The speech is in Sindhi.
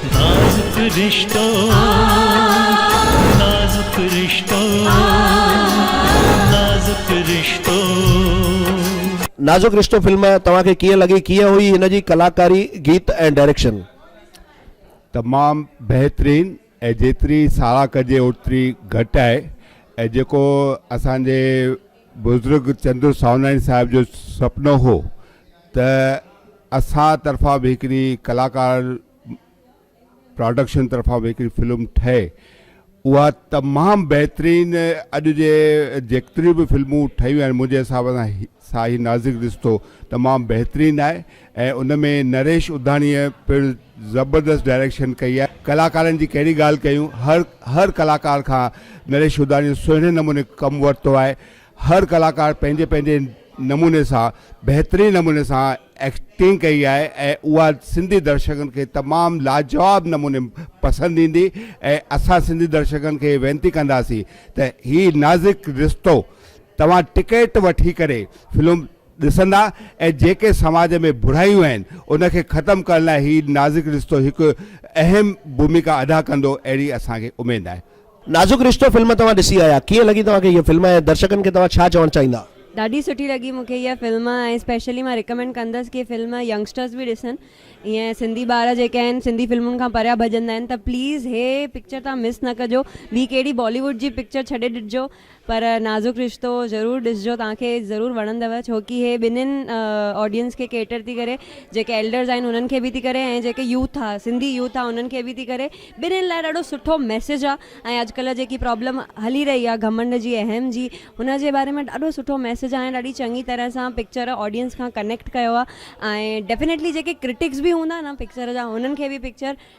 نازڪ رشتو نازڪ رشتو نازڪ رشتو. نازڪ رشتو فلم توهان کي ڪيئن لڳي ڪيئن هئي هن جي ڪلاڪاري گيت ۽ ڊائريڪشن. تمام بهترين ۽ جيتري ساراهه ڪجي اوتري گهٽ آهي ۽ جيڪو اسان جي بزرگ چندو ساوناڻي صاحب جو سپنو هو ته. ته اسان طرفان به هڪڙي ڪلاڪار پراڊڪشن طرفان به هڪڙي فلم ٺهي اها تمام بهترين اڄ جي جيڪتريون به فلمون ٺهيون آهن منهنجي حساب سان ساهي نازڪ رشتو تمام بهترين آهي ۽ ان ۾ نريش اڌاڻيء پڻ زبردست ڊائريڪشن ڪئي آهي ڪلاڪارن جي ڪهڙي ڳالهه ڪيون هر هر ڪلاڪار کان نريش اڌاڻيء سهڻي نموني ڪم ورتو آهي هر ڪلاڪار پنهنجي پنهنجي نموني سان بهترين نموني سان ايڪٽنگ ڪئي آهي ۽ اها سنڌي درشڪن کي تمام لاجواب نموني پسند ايندي ۽ اسان سنڌي درشڪن کي وينتي ڪنداسين ته هي نازڪ رشتو توهان ٽڪيٽ وٺي ڪري فلم ڏسندا ۽ جيڪي سماج ۾ برايون آهن ان کي ختم ڪرڻ لاء هي نازڪ رشتو هڪ اهم ڀوميڪا ادا ڪندو اهڙي اسان کي اميد آهي. نازڪ رشتو فلم توهان ڏسي آيا ڪيئن لڳي توهان کي هيء فلم ۽ درشڪن کي توهان ڇا چوڻ چاهيندا؟ ڏاڍي سٺي لڳي مونکي هيء فلم ۽ اسپيشلي مان ريڪمينڊ ڪندس ڪي فلم ينگسٽرس به ڏسن ائين سنڌي ٻار جيڪي آهن سنڌي فلمن کان پريان ڀڄندا آهن ته پليز هي پڪچر توهان مس نه ڪجو ٻي ڪهڙي بالي ووڊ جي پڪچر ڇڏي ڏجو پر نازڪ رشتو ضرور ڏسجو توهان کي ضرور وڻندو ڇوڪي هي ٻنهين آڊينس کي ڪيٽر ٿي ڪري جيڪي ايلڊرز آهن انهن کي به ٿي ڪري ۽ جيڪي يوٿ آ سنڌي يوٿ آ انهن کي به ٿي ڪري ٻنهين لاء ڏاڍو سٺو ميسيج آ ۽ اڄڪلهه جيڪي پرابلم هلي رهي آ گهمنڊ جي اهم جي ان جي باري ۾ ڏاڍو سٺو ميسيج آ ۽ ڏاڍي چڱي طرح سان پڪچر آڊينس کان ڪنيڪٽ ڪيو آ ۽ ڊيفينيٽلي جيڪي ڪرٽڪس به هوندا نا پڪچر جا انهن کي به پڪچر